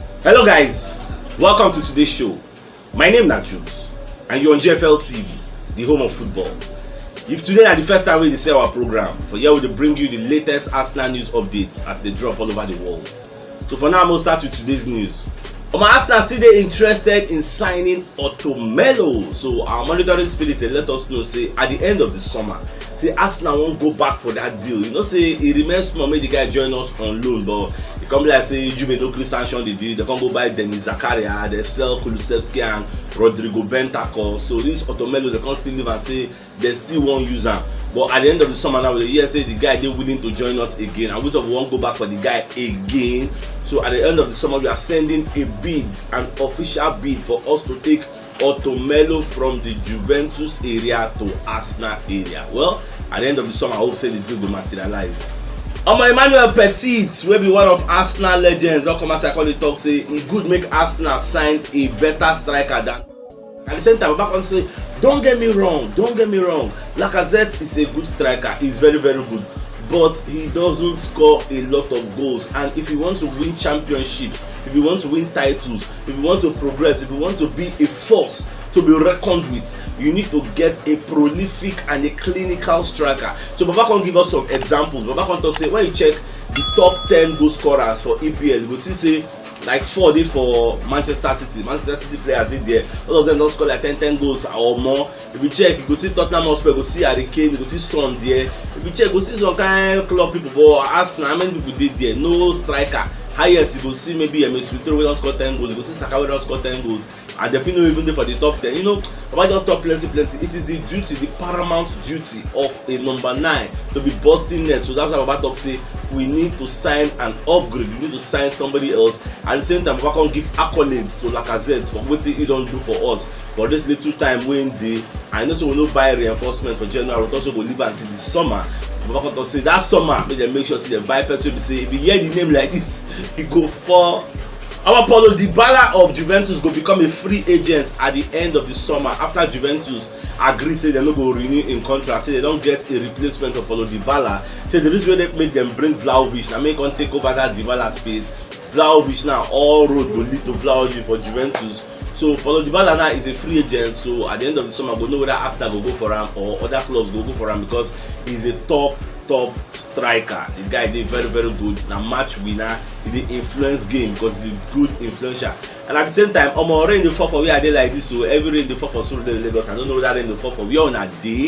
Hello guys, welcome to today's show. My name na Jules and you're on GFL TV, the home of football. If today na the first time we dey see our program, for here we dey bring you the latest Arsenal news updates as they drop all over the world. So for now, I'm gonna start with today's news. Omo Arsenal still dey interested in signing Otto Melo, so our monitoring spirit dey let us know say at the end of the summer, say arsenal wan go back for dat deal you know say e remain small make di guy join us on loan but e come be like say juve no gree sanction di deal dem come go buy denis zakaria dem sell kulusevski and rodrigo bentancur so dis otomelo dem come still leave am say dem still wan use am but at di end of di summer now we dey hear say di guy dey willing to join us again and we sef wan go back for di guy again so at di end of di summer we are sending a bid an official bid for us to take Otto Melo from the Juventus area to Arsenal area. Well, at the end of the summer, I hope say the deal will materialize. Omo Emmanuel Petit wey be one of Arsenal legends don come outside come dey talk say e good make Arsenal sign a better striker than at the same time Baba come say don't get me wrong don't get me wrong Lacazette is a good striker he is very very good but he doesn't score a lot of goals and if you want to win championships if you want to win titles If you want to progress, if you want to be a force to be reckoned with, you need to get a prolific and a clinical striker. So Baba can give us some examples. Baba can talk say when you check the top 10 goal scorers for EPL, you go see say like four dey for Manchester City. Manchester City players dey there. All of them don score like 10 10 goals or more. if you check you go see tottenham hotspur you go see harry kane you go see son there if you check you go see some kind club people but arsenal how many people dey there no striker highest you go see maybe emi smithrow wey don score ten goals you go see saka wey don score ten goals and dem fit no even dey for the top ten you know baba just talk plenty plenty it is the duty the paramount duty of a number nine to be busting net so that's why baba talk say we need to sign an upgrade we need to sign somebody else at the same time baba come give accolades to lacazette for wetin he don do for us but this little time wey him dey i know say we no buy reinforcement for january we talk say we go leave am till the summer baba come talk say that summer make dem make sure say dem buy person wey be say if you hear the name like this you go fall Our Paulo Dybala of Juventus go become a free agent at the end of the summer after Juventus agree say dem no go renew im contract say dem don get a replacement for Paulo Dybala say the reason wey make dem bring Vlahovic na make come take over that Dybala space Vlahovic now all road go lead to Vlahovic for Juventus So Paulo Dybala now is a free agent so at the end of the summer go know whether Arsenal go go for am or other clubs go go for am because he's a top top striker the guy dey very very good na match winner he dey influence game because he's a good influencer and at the same time omo rain dey fall for where i dey like this o oh. heavy rain dey fall for surulere lagos i don't know whether rain dey fall for where una dey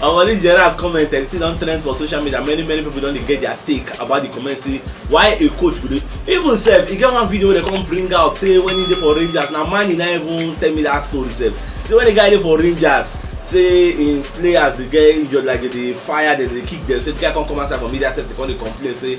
Omo dis Gerrard comment the thing don trend for social media many many people don dey get their take about the comment say why a coach go dey even sef e get one video wey dem come bring out say when he dey for Rangers na Mani na even tell me that story sef say when the guy dey for Rangers say him players dey get injured like dem dey fire dem dey kick dem say the guy come come outside for media set he come dey complain say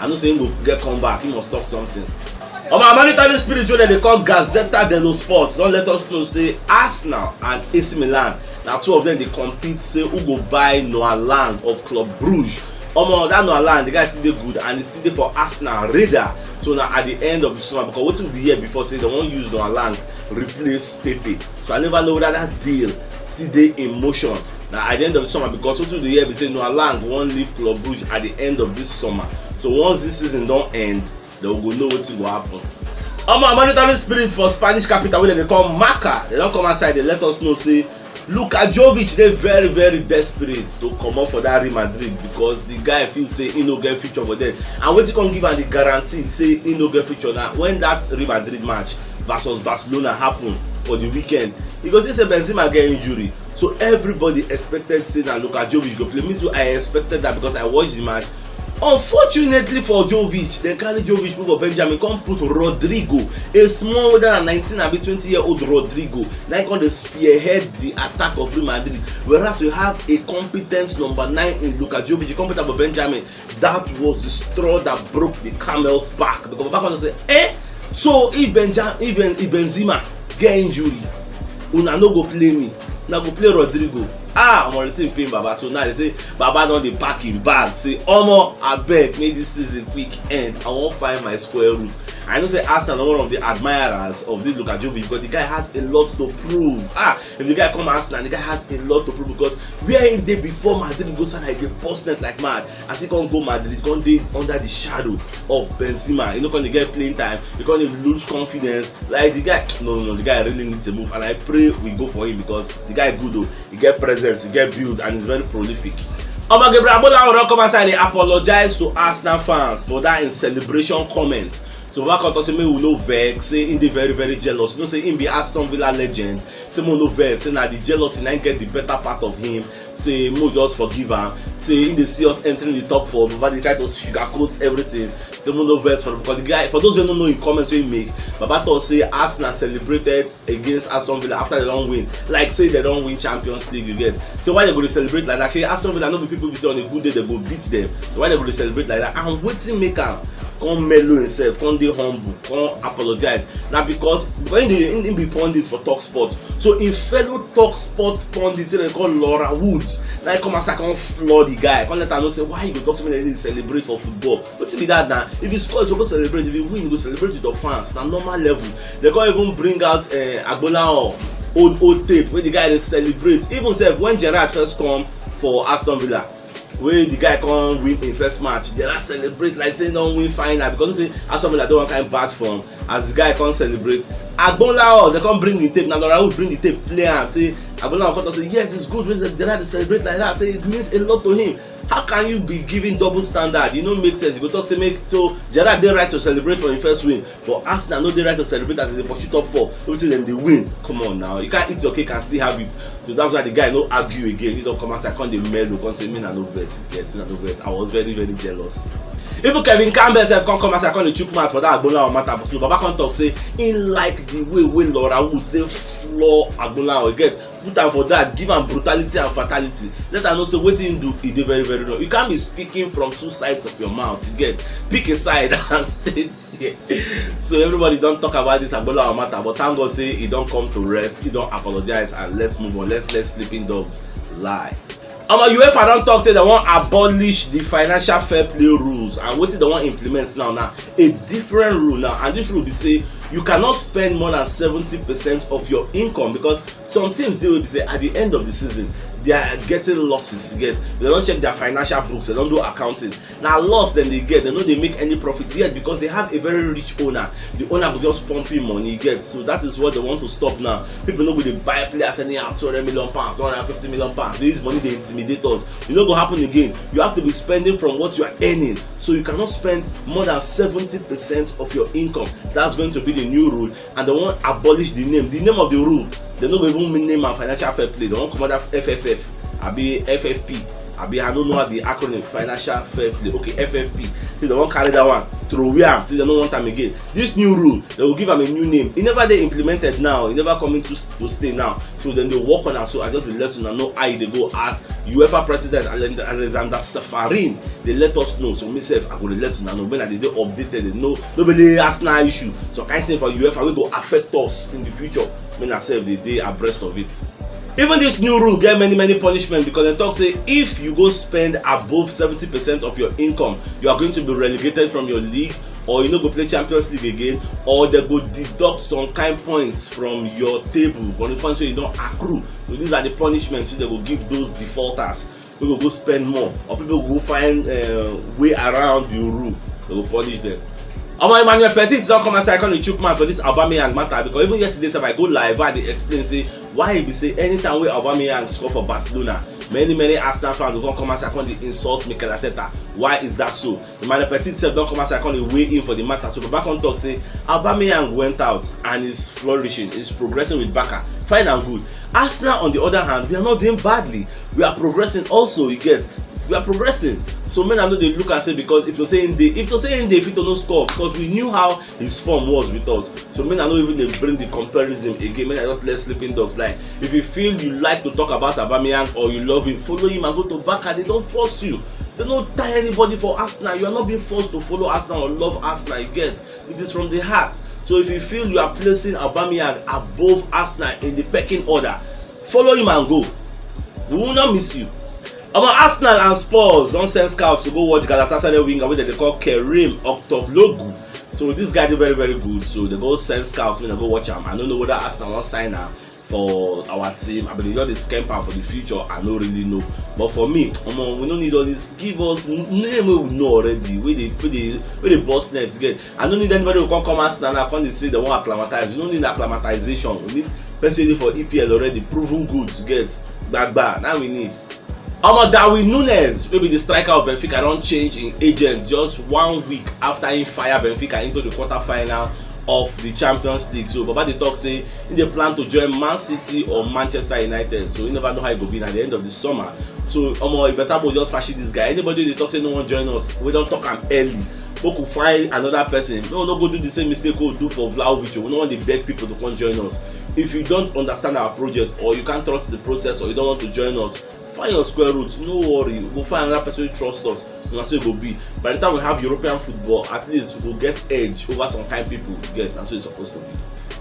i know say him go get come back he must talk something omo oh, monetary spirit wey dem dey call gazetta dello sport don let us know say arsenal and ac milan na two of them dey compete say who go buy noah lang of club bruges omo oh, that noah lang the guy still dey good and he still dey for arsenal radar so na at the end of the summer because wetin we hear before say dem wan use noah lang replace pepe so i never know whether that deal still dey in motion na at the end of the summer because wetin we dey hear be say noah lang wan leave club brugge at the end of this summer so once this season don end then we go know wetin go happen omo monitoring spirit for spanish capital wey dem dey call marca dem don come outside dey let us know say luka jovic dey very very desperate to comot for that real madrid because the guy feel say he no get future for them and wetin come give am the guarantee say he no get future na when that real madrid match versus barcelona happen for the weekend you go see say benzema get injury So everybody expected say that Luka Jovic go play. Me too, I expected that because I watched the match. Unfortunately for Jovic, they carry Jovic put for Benjamin, come put Rodrigo, a smaller than 19 abi 20 year old Rodrigo, na come dey spearhead the attack of Real Madrid. Whereas we have a competent number nine in Luka Jovic, competent for Benjamin, That was the straw that broke the camel's back because Baba Fernandez say eh so if Benja if, ben, if Benzema get injury una no go play me una go play Rodrigo ah omo the thing pain Baba so now they say Baba don dey pack him bag say omo abeg make this season quick end I wan find my square root I know say Arsenal na one of the admirers of this Luka Jovic because the guy has a lot to prove ah if the guy come arsenal the guy has a lot to prove because where he dey before madrid go salah he dey burst net like mad as he come go madrid he come dey under the shadow of benzema he no come dey get playing time he come dey lose confidence like the guy no no no the guy really need to move and i pray we go for him because the guy good o oh. he get presence he get build and he's very prolific omo gabriel agbolawo don come outside dey apologize to arsenal fans for that him celebration comment so baba come talk say make we no vex say him dey very very jealous you know say him be aston villa legend say make we no vex say na the jealousy na him get the better part of him say make we just forgive am say him dey see us entering the top four baba dey try to sugarcoat everything say make we no vex for am because the guy for those wey no know him comments wey him make baba talk say arsenal celebrated against aston villa after they don win like say they don win champions league again so why they go dey celebrate like that shey aston villa no be people be say on a good day they go beat them so why they go dey celebrate like that and wetin make am come mellow himself come dey humble come apologize na because because him dey him be pundit for talk sport so him fellow talk sport pundit wey dem call laura woods na him come outside come floor the guy come let am know say why you go talk to me like this celebrate for football wetin be that na if you score you suppose celebrate if you win you go celebrate with your fans na normal level they come even bring out uh, eh, agbolahan old old tape wey the guy dey celebrate even sef when gerrard first come for aston villa wey the guy come win im first match the last celebrate like say he don win final because he say aston villa don wan carry bad form as the guy come celebrate agbonlao dem come bring the tape na laura wood bring the tape play am say agbonlao come talk say yes it's good wey gerard dey celebrate like that say it means a lot to him how can you be giving double standard e no make sense you go talk say make so gerrard dey right to celebrate for im first win but arsenal no dey right to celebrate as e dey pursue top four wey be say dem dey win come on now you can't eat your cake and still have it so that's why the guy no argue again he don come outside come dey mellow come say me na no vex get me na no vex i was very very jealous even kevin campbell sef come come outside come dey chook mouth for that agbonlahor matter but baba come talk say he like the way wey laura woods dey floor agbonlahor you get put am for that give am brutality and fatality let am know say wetin him do e dey very very wrong you can't be speaking from two sides of your mouth you get pick a side and stay there so everybody don talk about this agbolawa matter but thank god say he don come to rest he don apologize and let's move on let's let sleeping dogs lie omo uefa don talk say dem wan abolish the financial fair play rules and wetin dem wan implement now na a different rule now and this rule be say you cannot spend more than seventy percent of your income because some teams dey wey be say at the end of the season they are getting losses you get they don check their financial books they don do accounting na loss dem dey get dem no dey make any profit yet because they have a very rich owner the owner go just pump him money get so that is what they want to stop now people no go dey buy players anyhow two hundred million pounds one hundred fifty million pounds they use money dey intimidate us e no go happen again you have to be spending from what you are earning so you cannot spend more than seventy percent of your income that's going to be the new rule and dem wan abolish the name the name of the rule dem no go even mean name and financial fair play dem wan comot that fff abi ffp abi i no know how the acronym financial fair play okay ffp say dem wan carry that one throway am say dem no want am again this new rule dem go give am a new name e never dey implemented now e never come into to stay now so dem dey work on am so i just dey let una know how e dey go as uefa president alexander safarin dey let us know so me sef i go dey let una know when i dey dey updated dey know no be only arsenal issue some kind thing for uefa wey go affect us in the future make na sef dey dey abreast of it even this new rule get many many punishment because dem talk say if you go spend above seventy percent of your income you are going to be relegated from your league or you no go play champions league again or dem go deduct some kind points from your table from the points wey you don accrue so these are the punishments wey dem go give those defaulters wey go go spend more or people go go find uh, way around the rule they go punish them omo emmanuel petit don come outside come dey chook mouth for this aubameyang matter because even yesterday sef i go live and dey explain say why e be say anytime wey aubameyang score for barcelona many many arsenal fans go come come outside come dey insult mikel arteta why is that so Emmanuel Petit sef don come outside come dey weigh in for the matter so Baba come talk say Aubameyang went out and is flourishing, is progressing with Barca, fine and good. Arsenal on the other hand, we are not doing badly, we are progressing also, you get, we are progressing. So make una no dey look am say because if to say him dey, if to say him dey Victor no score because we knew how his form was with us so make i no even dey bring the comparison again make i just let sleeping dogs lie if you feel you like to talk about abameyang or you love him follow him and go to baka they don force you they no tie anybody for arsenal you are not being forced to follow arsenal or love arsenal you get it is from the heart so if you feel you are placing abameyang above arsenal in the pecking order follow him and go we will not miss you Omo Arsenal and Spurs don send scouts to go watch Galatasaray winger wey dem dey call Kerim Oktoglogu. So this guy dey very very good so dem go send scouts make dem go watch am. I no know whether Arsenal wan sign am for our team abi dem just dey scamp am for the future I no really know. But for me omo we no need all this give us name wey we know already wey dey wey dey wey dey burst net you get. I no need anybody to come come Arsenal now come dey say dem wan acclimatize. We no need acclimatization. We need person wey dey for EPL already, proven goods get gbagba na we need. Omo Darwin Nunes wey be the striker of Benfica don change im agent just one week after im fire Benfica into the quarter final of the Champions League. So Baba dey talk say im dey plan to join Man City or Manchester United. So you never know how e go be na the end of the summer. So omo e better make we just fashi this guy. Anybody wey dey talk say no wan join us, we don talk am early. make we find another person make we no go do the same mistake wey we do for vlahovic o we no wan dey beg people to come join us if you don't understand our project or you can't trust the process or you don't want to join us find your square root no worry we go find another person wey trust us na so e go be by the time we have european football at least we go get edge over some kind people you get na so e suppose to be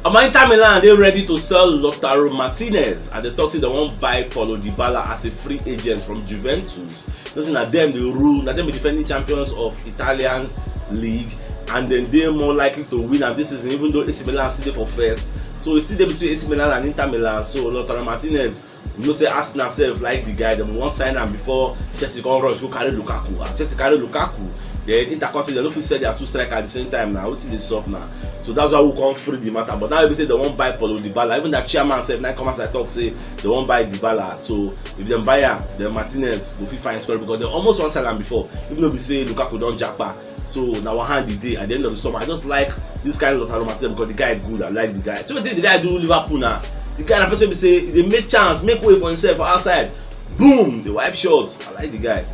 omo inter milan dey ready to sell lautaro martinez and dem talk say dem wan buy paulo dybala as a free agent from juventus no say na dem dey rule na dem be defending champions of italian league and dem dey more likely to win am this season even though ac milan still dey for first so e still dey between ac milan and inter milan so lautaro martinez you know say arsenal sef like the guy dem wan sign am before chelsea come rush go carry lukaku as ah, chelsea carry lukaku then inter come say dem no fit sell their two strikers at the same time na wetin dey sup na so that's why we come free the matter but now wey be say dem wan buy paulo dybala even their chairman sef na come outside talk say dem wan buy dybala so if dem buy am then martinez go fit find scoring because dem almost wan sell am before even though be say lukaku don japa so na one hand e dey at the end of the summer i just like this kind of lautaro martinez because the guy good i like the guy see wetin the guy do liverpool na the guy na person wey be say e dey make chance make way for himself for outside boom dey wipe shots I like the guy.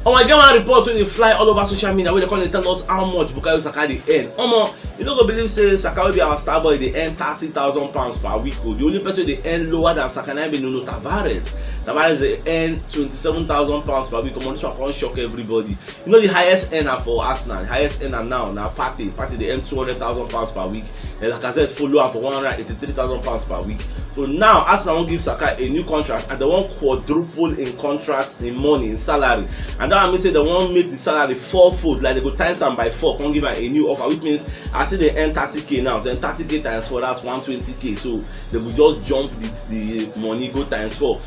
Oh my god, one report when they fly all over social media where they come and tell us how much Bukayo Saka dey earn. Omo, you no go believe say Saka will be our star boy They earn thirty thousand pounds per week oh. The only person they earn lower than Saka na be Nuno Tavares. Tavares they earn twenty-seven thousand pounds per week. Omo, this one come shock everybody. You know the highest earner for Arsenal, the highest earner now na Partey. Partey they earn two hundred thousand pounds per week. and Lacazette follow am for one hundred and eighty-three thousand pounds per week so now Arsenal wan give Saka a new contract and dem wan quadruple im contract im money im salary and that one mean say dem wan make the salary four fold like dem go times am by four come give am a new offer which means as e dey earn thirty k now then thirty k times four that's one twenty k so dem go just jump the the money go times four